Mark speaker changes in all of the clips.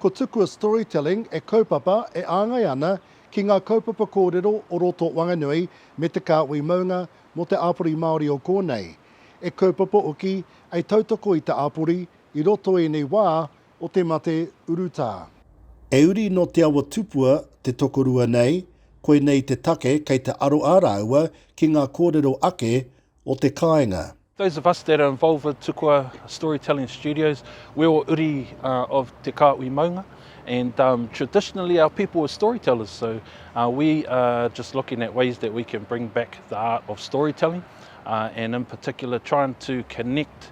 Speaker 1: Ko Tukua Storytelling e kaupapa, e āngai ana ki ngā kaupapa kōrero o roto Wanganui me te kāhui maunga mō te āpori Māori o kōnei. E kaupapa hoki, e tautoko i te āpori i roto ēnei wā o te mate urutā. E uri nō Te Awa Tupua te tokorua nei, koinei te take kei te aro a rāua ki ngā kōrero ake o te kāinga. Those of us that are
Speaker 2: involved with Tukua Storytelling Studios, we're all uri of te kāhui maunga and traditionally our people were storytellers so we are just looking at ways that we can bring back the art of storytelling and in particular trying to connect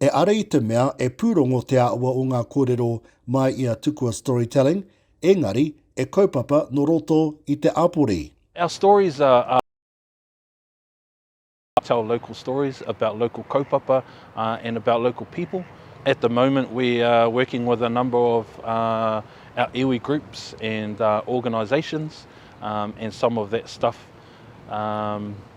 Speaker 3: E ara i te mea
Speaker 1: e pūrongo te āhua o ngā kōrero mai i a Tukua Storytelling, engari, e kaupapa nō roto i te āpori. Our stories
Speaker 2: are are tell local stories about local kaupapa and about local people. At the moment we are working with a number of our iwi groups and organisations and some of that stuff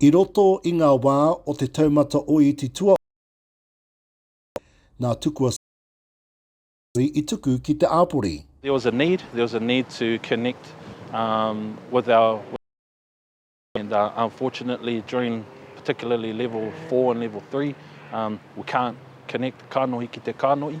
Speaker 3: I roto i ngā
Speaker 1: wā o te taumata o Iti Tuaono i Waikato, nā Tukua Sir John Harvey i tuku ki te āpori. There was a need, there
Speaker 2: was a need to connect with our and unfortunately during particularly level four and level three we can't connect kanohi ki te kanohi.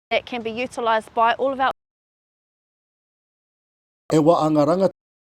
Speaker 3: that can be utilised by all of
Speaker 1: our.
Speaker 3: E wā a ngā rangatira.